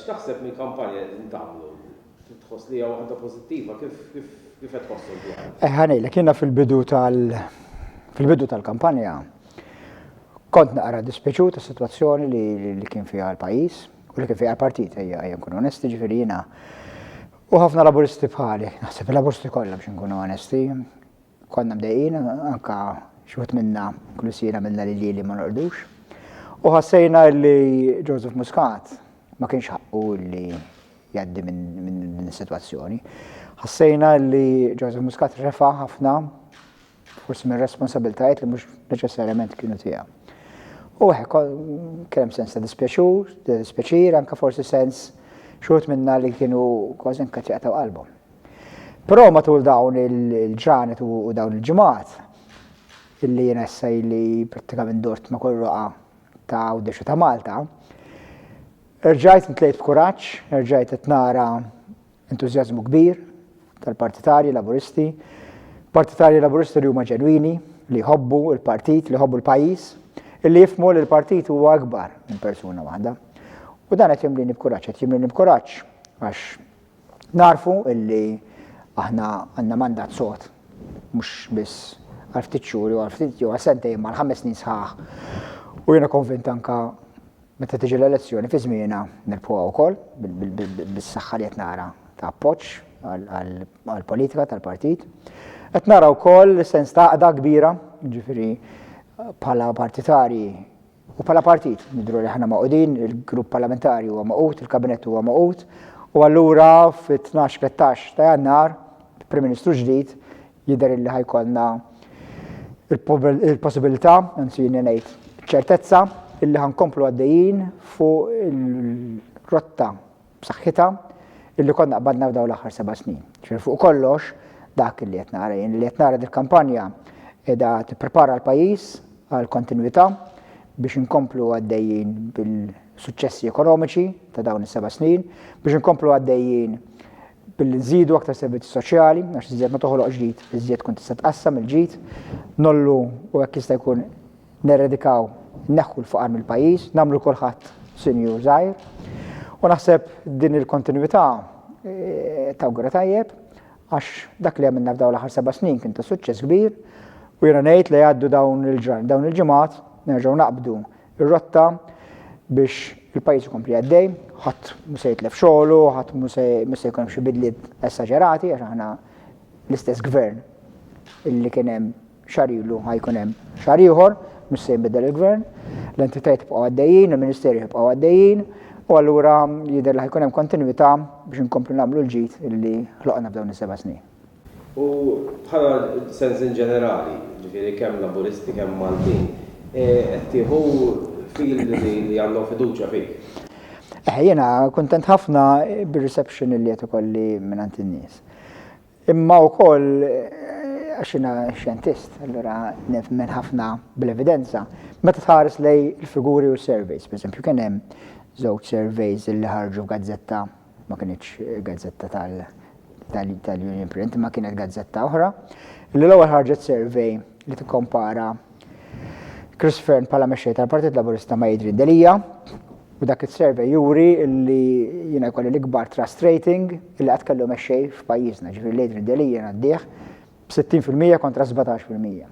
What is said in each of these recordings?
X'taħseb mill-kampanja li qegħdin tagħmlu? Tħoss li hija waħda pożittiva kif kif qed tħossu dwar? Eh ħanejlek jiena fil-bidu tal fil-bidu tal-kampanja kont naqra dispeċu ta' situazzjoni li kien fiha l-pajjiż u li kien fiha l-partit ejja ejja nkun onesti ġifieri jiena u ħafna laburisti bħali, naħseb laburisti kollha biex nkunu onesti, Konna mdejqin, anke xi wħud minna, inkluż jien għamilna lil lili ma norqdux. U ħassejna li Joseph Muscat ma kienx ħaqqu li jgħaddi minn din is-sitwazzjoni. Ħassejna li Joseph Muscat refa' ħafna forsi minn responsabiltajiet li mhux neċessarjament kienu tiegħu. U hekk kellem sens ta' dispjaċur, ta' dispjaċir, anke forsi sens xogħod minna li kienu kważi nkatjaqtaw qalbhom. Però matul dawn il-ġranet u dawn il-ġimgħat, illi jien issa li prattikament dort ma' kull roqa ta' Għawdex u ta' Malta, rġajt ntlejt b'kuraġġ, rġajt qed nara entużjażmu kbir tal-partitarji Laburisti, partitarji Laburisti li huma ġenwini, li jħobbu l-partit, li jħobbu l-pajjiż, illi jifhmu li l-partit huwa akbar minn persuna waħda. U dan qed jimlini b'kuraġġ, qed jimlini b'kuraġġ għax Nagħrfu illi aħna għandna mandat sod, mhux biss għal ftit xhur jew għal ftit jew għal sentejn imma għal ħames snin sħaħ. U jiena konvint anke meta tiġi l-elezzjoni fi żmienha nirbħuha wkoll bis-saħħa li qed nara ta' appoġġ għall-politika tal-partit. Qed nara wkoll sens ta' għaqda kbira, ġifieri bħala partitarji U bħala partit nidhru li aħna magħqudin, il-Grupp Parlamentari huwa magħqud, il-Kabinett huwa magħqud, u allura fit-tnax, tlettax ta' Jannar, Prim Ministru ġdid, jidher illi ħa jkollna il-possibilità, anzi jiena ngħid ċ-ċertezza, illi ħa nkomplu għaddejjin fuq il-rotta b'saħħitha illi konna qbadna f'dawn l-aħħar seba' snin. Ġifieri fuq kollox dak li qed nara jien, li qed nara dil-kampanja qiegħda tipprepara l-pajjiż għal kontinwità biex inkomplu għaddejjin bil-suċċessi ekonomiċi ta' dawn is-seba' snin, biex inkomplu għaddejjin billi nżidu aktar servizzi soċjali, għax iżjed ma toħloq ġdid, iżjed tkun tista' tqassam il-ġid, nollu u hekk jista' jkun Neredikaw, inneħħu l-faqar mill-pajjiż, nagħmlu lil kulħadd sinjur żgħir. U naħseb din il-kontinwità eh, tawgura tajjeb għax dak li għamilna f'dawn l-aħħar seba' snin kien ta' suċċess kbir u jiena ngħid li għaddu dawn il-ġran, dawn il-ġimgħat nerġgħu naqbdu ir-rotta biex il-pajjiż ikompli għaddej, ħadd mhux se jitlef xogħlu, ħadd mhux se jkun hemm xi bidliet esaġerati għax aħna l-istess gvern illi kien hemm Xahar ilu ħa jkun hemm xahar ieħor, mhux se jinbidel il-Gvern, l-entitajiet jibqgħu għaddejjin, il-Ministeri jibqgħu għaddejjin u allura jidher li ħa jkun hemm kontinwità biex inkomplu nagħmlu l-ġid li ħloqna f'dawn is-seba' snin. U bħala sens in ġenerali, ġifieri kemm Laburisti kemm Maltin, qed tieħu feel li għandhom fiduċja fik? Eħe, jiena kuntent ħafna bir-reception li qed ikolli mingħand in-nies. Imma wkoll għax jiena xjentist, allura nemmen ħafna bl-evidenza, meta tħares lejn il-figuri u s-surveys, pereżempju kien hemm żewġ surveys li ħarġu f'gazzetta, ma kinitx gazzetta tal-Union Print, imma kienet gazzetta oħra, li l-ewwel ħarġet survey li tikkompara Chris Fearne bħala mexxej tal-Partit Laburista ma' Adrian Delia, U dak is-survey juri li jiena jkolli l-ikbar trust rating li qatt kellu mexxej f'pajjiżna, ġifieri l-Adrian Delia ngħaddih b'60% kontra 17 fil-mija.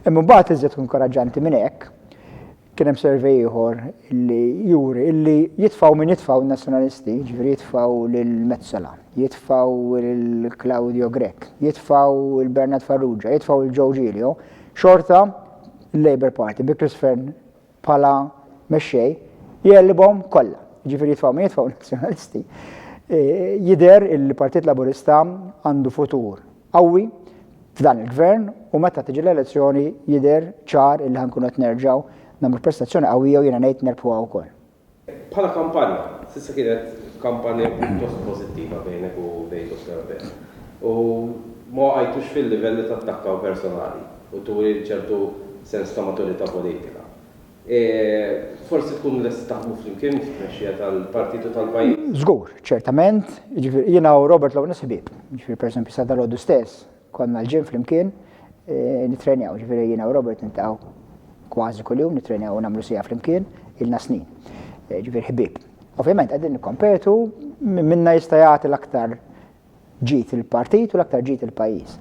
Imma mbagħad iżjed inkoraġġanti minn hekk, kien hemm survey ieħor li juri li jitfgħu min jitfgħu n-Nazzjonalisti, ġifieri jitfgħu lil Metsola, jitfgħu lil Claudio Grech, jitfgħu lil Bernard Farrugia, jitfgħu lil Joe Giglio, xorta l-Labour Party bi Chris Fearne bħala mexxej jgħellibhom kollha. Jiġifieri jitfgħu min jitfgħu nazzjonalisti. E, jidher il-Partit Laburista għandu futur qawwi f'dan il-gvern u meta tiġi l-elezzjoni jidher ċar il-ħankun qed nerġgħu nagħmlu prestazzjoni qawwija u jiena ngħid nerbħuha wkoll. Bħala kampanja, s'issa kienet kampanja pjuttost pożittiva bejnek u bejn Dottor Abela. U ma waqajtux fil-livell li tattakkaw personali u turi ċertu sens ta' maturità politika. Forsi tkunu lesti taħdmu flimkien fit-tmexxija tal-partit u tal-pajjiż? Żgur, ċertament. Jiġifieri jiena u Robert Lawrence ħbieb. Jiġifieri pereżempju sa dalgħodu stess, Konna l-gym flimkien nittrenjaw, ġifieri jiena u Robert niltaqgħu kważi kuljum nittrenjaw u nagħmlu siegħa flimkien ilna snin. Eh, ġifieri ħbieb. Ovvjament qegħdin nikkompetu minn minna jista' jagħti l-aktar ġid il-partit u l-aktar ġid il-pajjiż.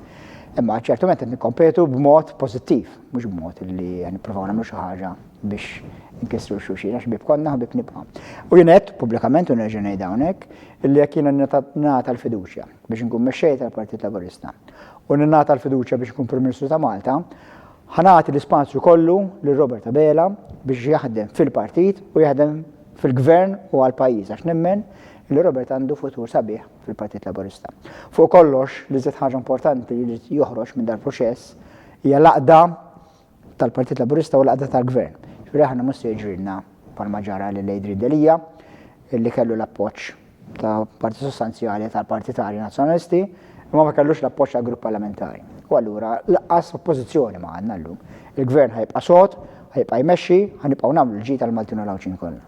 Imma ċertument qed nikkompetu b'mod pożittiv, mhux b'mod li nippruvaw nagħmlu xi ħaġa biex nkissru xuxina x'bib konna ħbib nibqa'. U jien qed pubblikament u nerġa' ngħid hawnhekk illi jekk jiena nagħta l-fiduċja biex inkun mexxej tal-Partit Laburista u ningħata l-fiduċja biex inkun Prim Ministru ta' Malta, ħa nagħti l-ispazju kollu lil Robert Abela biex jaħdem fil-partit u jaħdem fil-gvern u għall-pajjiż għax nemmen li Robert għandu futur sabiħ fil-Partit Laburista. Fuq kollox, li żied ħaġa importanti li jrid joħroġ minn dal-proċess hija l-għaqda tal-Partit Laburista u l-qagħda tal-Gvern. Ġifieri aħna mhux se jiġrilna bħalma ġara lil Adrian Delia li kellu l-appoġġ ta' parti sostanzjali tal-partitarji Nazzjonalisti imma ma kellux l-appoġġ tal-grupp parlamentari. U allura laqqas oppożizzjoni ma għandna llum. Il-Gvern ħajbqa' sod, ħajbqa' jmexxi, ħanibqgħu nagħmlu l-ġid għall-Maltin u l-Għawdxin kollha.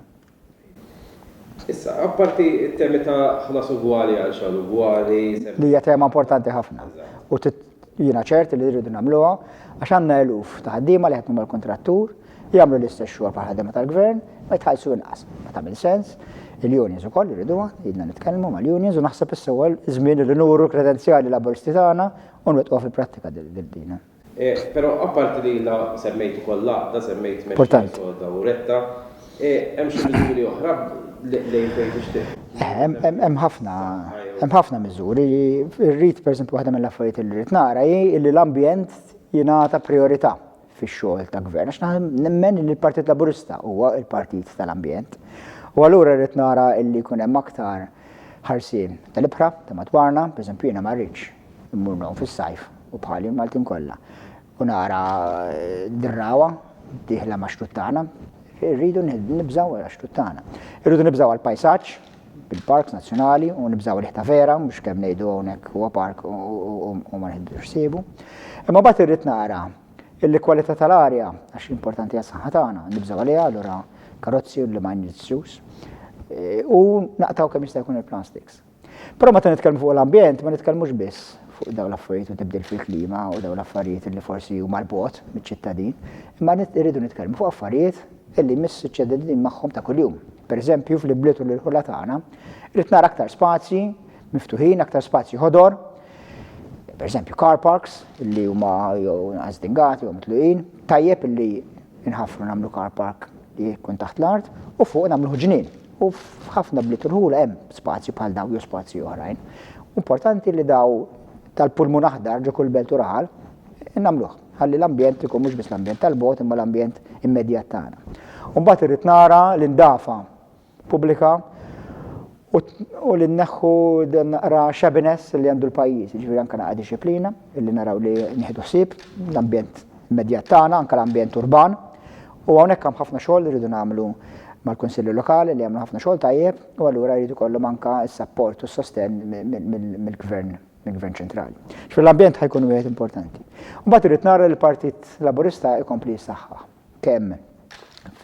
Issa, apparti t-temi ta' ħlas ugwali għal xogħol ugwali, Li hija tema importanti ħafna u jiena ċert li rridu nagħmluha għax għandna eluf ta' ħaddiema li jaħdmu mal-kuntrattur, jagħmlu l-istess xogħol bħall-ħaddiema tal-Gvern, ma jitħallsu inqas. Ma tagħmilx sens. Il-unions ukoll irriduha, ilna nitkellmu mal-unions u naħseb issa huwa ż-żmien li nuru l-kredenzjali Laburisti tagħna u nwettquha fil-prattika din. Però apparti li jiena semmejt ukoll l-għaqda, semmejt mexja soda u retta, hemm xi miżuri oħra lejn fejn tixtieq? Hemm ħafna, hemm ħafna miżuri. Irrid, pereżempju, waħda mill-affarijiet li rrid nara hi li l-ambjent jingħata prijorità fix-xogħol ta' gvern. Għax naħa nemmen li l-Partit Laburista huwa l-partit tal-ambjent. U allura rrid nara li jkun hemm aktar ħarsien tal-ibħra ta' madwarna, pereżempju jiena ma rridx Immur ngħum fis-sajf u bħali l-Maltin kollha. U nara d-drawwa dieħla ma' xtut tagħna, irridu nibżgħu għal xtut tagħna. Irridu nibżgħu għal pajsaġġ bil-parks nazzjonali u nibżgħu riħta vera, mhux kemm ngħidu hawnhekk huwa park u ma nħiddux sibu. Imma bagħad irrid nara illi kwalità tal-arja għax importanti għas-saħħa tagħna, nibżgħu għaliha allura karozzi u li ma nġissux. Eh, u naqtaw kemm jista' jkun il-plastiks. Però meta nitkellmu fuq l-ambjent ma nitkellmux biss fuq dawn l-affarijiet u tibdil fil-klima u dawn l-affarijiet li forsi huma l-bogħod miċ-ċittadin, imma irridu nitkellmu fuq affarijiet li jmiss iċ-ċittadin magħhom ta' kuljum. Per eżempju, fl-ibliet u l-irħula tagħna, irrid nara aktar spazji miftuħin, aktar spazji ħodor, per eżempju car parks li huma jew għażdingati jew mitluqin, tajjeb li nħaffru nagħmlu car park li jkun taħt l-art u fuq nagħmlu ġnien. U f'ħafna bliet irħula hemm spazji bħal dawn jew spazji oħrajn. U importanti li daw tal-pulmun aħdar ġo kull belt u raħal nagħmluh. Ħalli l-ambjent ikun mhux biss l-ambjent tal-bogħod imma l-ambjent immedjat tagħna. U mbagħad irrid nara li ndafa pubblika u u li nneħħu dan naqra xebiness li għandu l-pajjiż, jiġifieri anke naqra dixxiplina, illi naraw li nieħdu ħsieb l-ambjent immedjat tagħna, anke l-ambjent urban, U hawnhekk hemm ħafna xogħol li rridu nagħmlu mal-Kunsilli Lokali li jagħmlu ħafna xogħol tajjeb u allura jrid ikollhom anke s-sapport u s-sostenn mill-Gvern, mill-Gvern Ċentrali. Ġifieri l-ambjent ħa jkun wieħed importanti. U mbagħad irrid nara li l-Partit Laburista jkompli jissaħħaħ kemm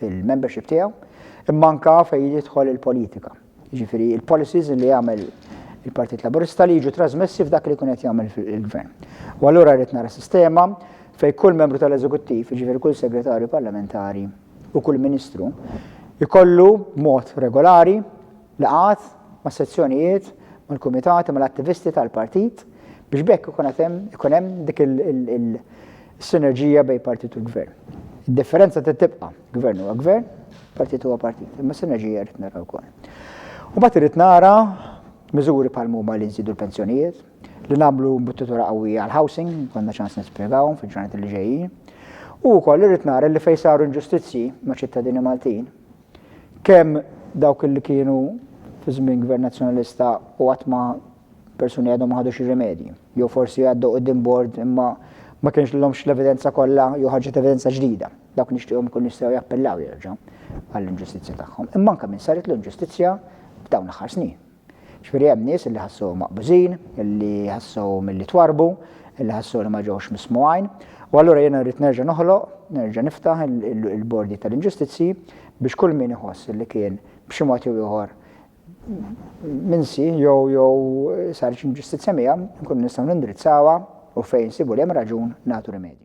fil-membership tiegħu imma anke fejn jidħol il-politika. jiġifieri l-policies li jagħmel il-Partit Laburista li jiġu trasmessi f'dak li jkun qed jagħmel il-Gvern. U allura rrid nara sistema fejn kull membru tal-Eżekuttiv, jiġifieri kull segretarju parlamentari u kull ministru, jkollu mod regolari laqgħat ma' sezzjonijiet mal-kumitati mal-attivisti tal-partit biex bekk ikun hemm dik il-sinerġija bejn partit u l-gvern. Id-differenza trid tibqa'. Gvern huwa gvern, partit huwa partit, imma sinerġija rrid nara wkoll. U mbagħad irrid nara miżuri bħal huma li nżidu l-pensjonijiet, li nagħmlu mbuttitura qawwija għal housing, konna ċans nispjegawhom fil-ġranet li ġejjin. U wkoll irrid nara li fejn saru inġustizzji ma' ċittadini Maltin, kemm dawk li kienu fi żmien gvern nazzjonalista u qatt ma persuni għadhom ma ħadux ir-rimedji. Jew forsi għaddu qudiem bord imma ma kienx l-lomx l-evidenza kollha jew ħarġet evidenza ġdida. Dawk nixtieqhom ikunu jistgħu jappellaw jerġa' għall-inġustizzja tagħhom, imma anke min saritlu inġustizzja f'dawn l-aħħar snin. Ġifieri hemm nies li ħassuhom maqbużin, li ħassuhom li twarrbu, li ħassu li ma ġewx mismugħin, u allura jiena rrid nerġa' noħloq, nerġa' niftaħ il-bordi tal-inġustizzji biex kull min iħoss li kien b'xi mod jew ieħor minsi jew jew saret inġustizzja miegħu nkunu nistgħu nindirizzawha u fejn sibu li hemm raġun nagħtu rimedju.